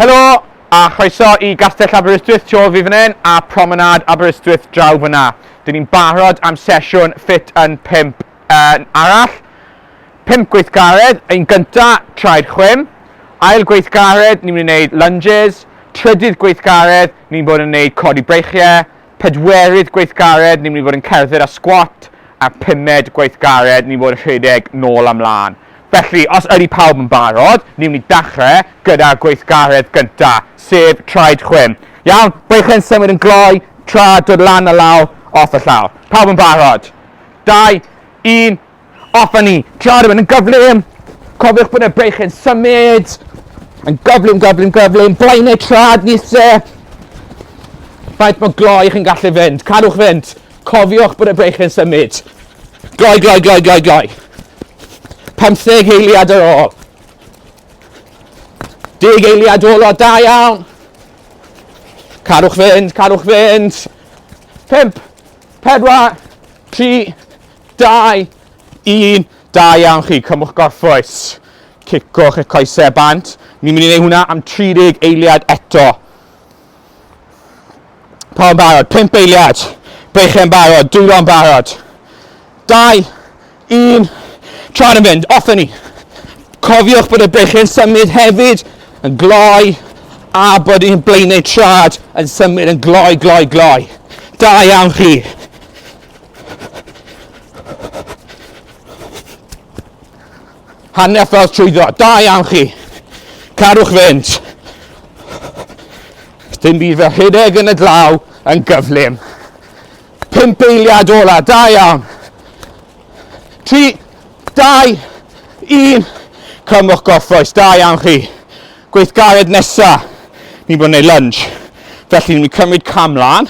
Helo a chroeso i Gastell Aberystwyth tu ôl fi fan hyn a Promenade Aberystwyth draw fyna. Dyn ni'n barod am sesiwn ffit yn 5 yn arall. 5 gweithgaredd, ein gynta, traed chwim. Ail gweithgaredd, ni'n mynd i wneud lunges. Trydydd gweithgaredd, ni'n bod yn wneud codi breichiau. Pedwerydd gweithgared ni'n mynd i fod yn cerdded a sgwat a'r pumed gweithgared ni'n fod yn rhedeg nôl a mlan. Felly, os ydy pawb yn barod, ni'n mynd i dachre gyda'r gweithgaredd gynta, sef traed chwim. Iawn, beichiau'n symud yn gloi tra dod lan a lawr off y llawr. Pawb yn barod? Dau, un, Off a ni. Tra rhywun yn gyflym. Cofiwch bod y breich yn symud. Yn gyflym, gyflym, gyflym. Blaenau trad nise. Faint mae gloi chi'n gallu fynd. Cadwch fynd. Cofiwch bod y breich yn symud. Gloi, gloi, gloi, gloi, gloi. 50 heiliad ar ôl. Deg eiliad ôl o da iawn. Carwch fynd, carwch fynd. 5, 4, 3, 2, 1, da iawn chi, cymwch gorffwys, cicwch eich coesau bant. Ni'n mynd i wneud hwnna am 30 eiliad eto. Pa'n barod, 5 eiliad, beichau'n barod, dwylo'n barod. 2, 1, tra'n yn fynd, off ni. Cofiwch bod y beichau'n symud hefyd, yn gloi, a bod ni'n blaenau trad yn symud yn gloi, gloi, gloi. Da iawn chi. Hanner ffordd trwyddo. Da iawn chi. Carwch fynd. Dim byd fel hyneg yn y glaw yn gyflym. Pimp eiliad ola. Da iawn. Tri, dau, un. Cymwch gorffwys. Da iawn chi. Gweithgared nesa. Ni'n bod yn ei lunge. Felly ni'n cymryd cam lan.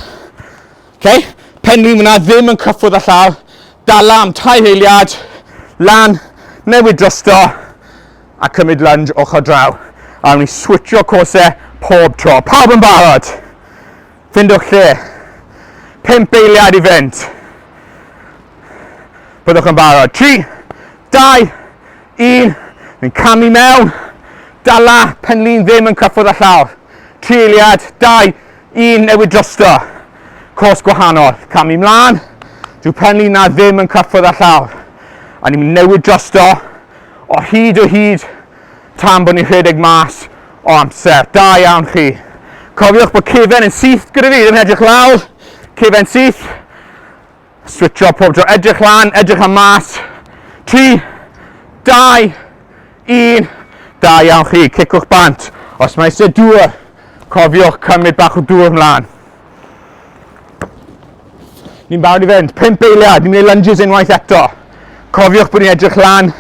Ok, pen rîm yna ddim yn cyffwrdd â llaw, dala am tair eiliad, lan, newid drosto, a cymryd lunge ochr draw. A ni switcho cose pob tro. Pawb yn barod? Findwch lle. Pimp eiliad i fynd. Byddwch yn barod. Tri, dau, un. Ni'n camu mewn. Dala, penlun ddim yn cyffwrdd â llawr. Tri eiliad, dau, Un newid drosto. Cwrs gwahanol. Camu mlaen. Dyw pen Lina ddim yn cyffwrdd â llawr. A ni'n mynd newid drosto o hyd o hyd tan bod ni'n rhedeg mas o amser. Da iawn chi. Cofiwch bod cefen yn syth gyda fi, ddim yn edrych lawr. Cefen syth. Switcho pob tro, edrych lan, edrych am mas. 3, 2, 1. Da iawn chi, cicwch bant. Os mae eisiau dŵr, cofiwch cymryd bach o dŵr ymlaen. Ni'n barod i fynd, 5 beiliad, ni'n mynd i lunges unwaith eto. Cofiwch bod ni'n edrych lan,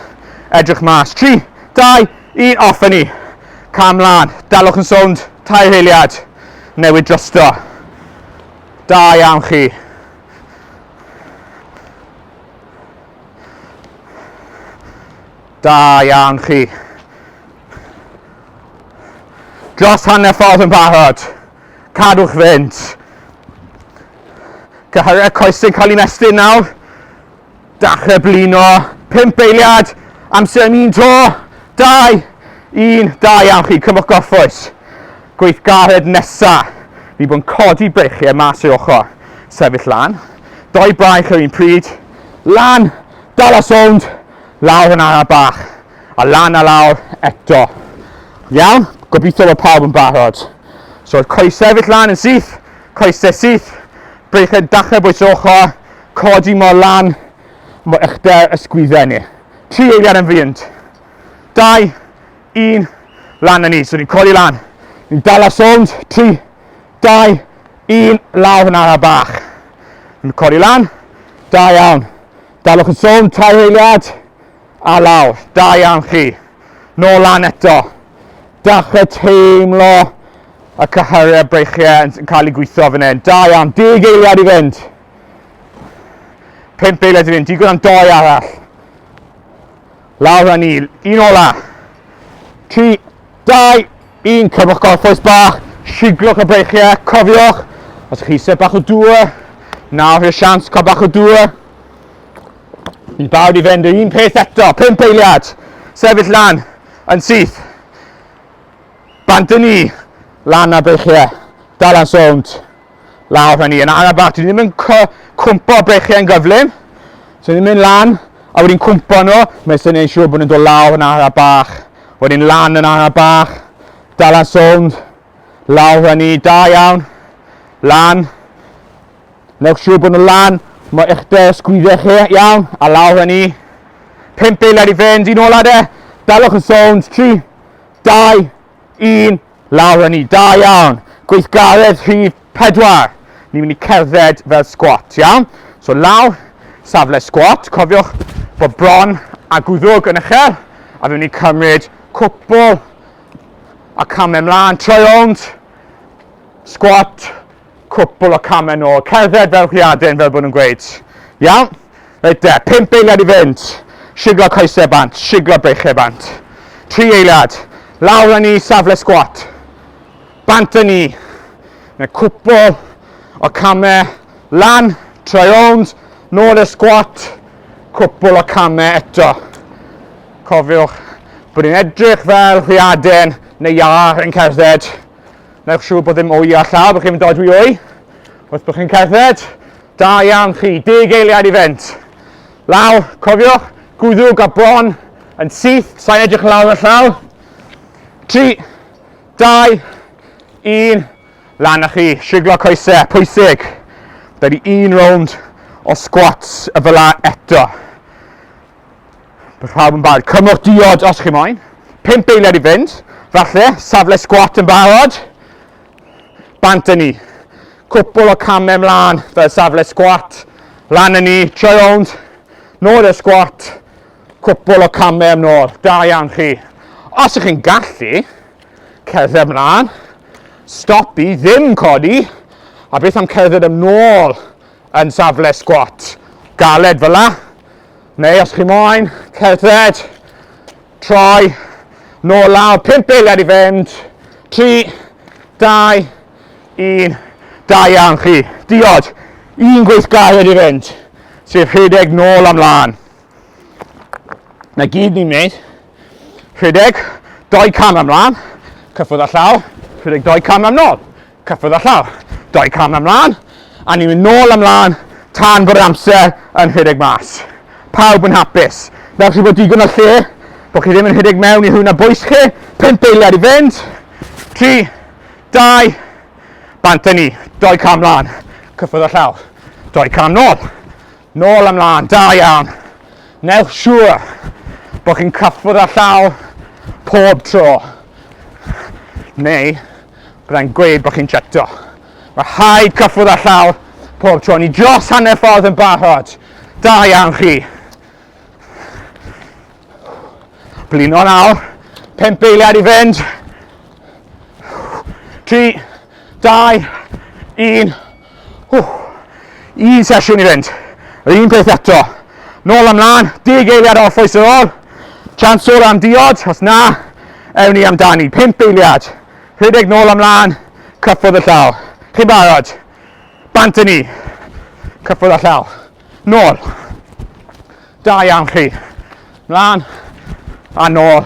edrych mas. 3, 2, 1, off ni. Cam lan, dalwch yn sownd, tair heiliad, newid drosto. Da iawn chi. Da iawn chi. Dros hanner ffordd yn barod. Cadwch fynd. Cyhyrau coes yn cael ei mestyn nawr. Dachrau blino, pump eiliad, amser am un to, dau, un, da iawn chi, cymwch gorffwys. Gweithgared nesa, ni bod yn codi breichiau mas i'r ochr, sefyll lan, doi braich ar un pryd, lan, dal a sownd, lawr yn araf bach, a lan a lawr eto. Iawn, gobeithio bod pawb yn barod. So, coesau sefyll lan yn syth, coesau syth, breichau dachrau bwys ochr, Codi mor lan mo eich de ysgwydden ni. Tri eiliad yn fynd. Dau, un, lan na ni. So ni'n codi lan. Ni'n dal ar sownd. Tri, dau, un, lawr yn araf bach. Ni'n codi lan. Da iawn. Dalwch yn sownd, tair eiliad. A lawr. Da iawn chi. Nôl lan eto. Dachrau teimlo y cyhyrau breichiau yn cael ei gweithio fan hyn. Da iawn. Deg eiliad i fynd. Pimp beiled i fynd, digon am doi arall. Lawr a ni, un ola. Tri, dau, un, cymwch gorffwys bach, siglwch y breichiau, cofiwch, os ydych chi eisiau bach o dŵr, nawr i'r sians cael bach o dŵr. Ni'n bawd i fynd yr un peth eto, pimp eiliad, sefyll lan, yn syth. Bant y ni, lan a breichiau, dal a'n sownd. lawr fan hyn, ar y bach, dwi ddim yn cwmpo brechiau'n gyflym, so ni'n mynd lan, a wedi'n cwmpo nhw, mae'n sy'n ein siŵr bod nhw'n dod lawr yn ara bach, wedi'n lan yn ara bach, dal ar sownd, lawr fan ni, da iawn, lan, newch siŵr bod nhw'n lan, mae eich de sgwydde chi iawn, a lawr fan ni, 5 eiliad i fynd, un ola de, dalwch yn sownd, 3, 2, 1, Lawr â ni, da iawn! Gweithgaredd rhif pedwar. Ni'n mynd i cerdded fel sgwat, iawn? So lawr, safle sgwat, cofiwch bod bron a gwddwg yn uchel, a fi'n mynd i cymryd cwpl a camau mlaen, troi rownd, sgwat, Cwpl o camau nôl, cerdded fel rhiadyn fel bod nhw'n gweud. Iawn? Reit de, pump eiliad i fynd. Siglo coesau bant, siglo breichiau bant. Tri eiliad, lawr â ni safle sgwat. Bant â ni. Neu cwpl o camau lan, troi rownd, nôl i'r sgwat. Cwpl o camau eto. Cofiwch bod ni'n edrych fel rhiaden neu iâr yn cerdded. Newch siŵr bod ddim o'i a llaw bod chi'n mynd odwi o'i wrth bod chi'n cerdded. Da iawn chi, deg eiliad i fynd. Lawr, cofiwch, gwddwg a bron yn syth, sa'n edrych yn lawr y llaw. 3, 2, 1, lan â chi, siglo coesau, pwysig. Da ni un rownd o squats y fel eto. Bydd pawb yn barod. Cymwch diod os chi moyn. Pimp eiliad i fynd. Falle, safle sgwat yn barod. Bant yn ni. Cwpl o camau ymlaen fel safle sgwat. Lan yn ni, troi rownd. Nôl i'r sgwat. Cwpl o camau am nôl. Da iawn chi. Os ych chi'n gallu, cerdded ymlaen. Stopi, ddim codi. A beth am cerdded ymlaen. yn safle sgwat galed fel la, neu os chi moyn cerdded, troi, nôl lawr, 5 eiliad i fynd, 3, 2, 1, da iawn chi, diod, un gweithgaredd i fynd, sef rhedeg nôl am lan. Na gyd ni'n gwneud, rhedeg, doi cam am lan, cyffwrdd â llaw, rhedeg doi cam am nôl. Cyffwrdd â llaw, dau cam am mlân, a ni'n mynd nôl am mlân tan bod yr amser yn rhedeg mas. Pawb yn hapus. Fel chi bod digon o lle, bod chi ddim yn rhedeg mewn i hwna bwys chi, pump eiliad i fynd, tri, dau, bant â ni, dau cam mlân, cyffwrdd â llaw, dau cam nôl, Nôl ymlaen, da iawn. Newch siŵr bod chi'n cyffwrdd â llaw pob tro. Neu, byddai'n gweud bod chi'n cheto. Mae rhaid cyffwrdd â llaw pob tro. Ni dros hanner ffordd yn barod. Da iawn chi. Blino nawr. Pimp beiliad i fynd. 3, 2, 1. Un sesiwn i fynd. Yr un peth eto. Nôl ymlaen, deg eiliad off oes yr ôl. Chance o'r am diod, os na, ewn ni amdani. Pimp eiliad. Rhedeg nôl ymlaen, cyffwrdd y llaw. Chi'n barod? Bant yn ni. Cyffwrdd y llaw. Nôl. Da iawn chi. Mlaen. A nôl.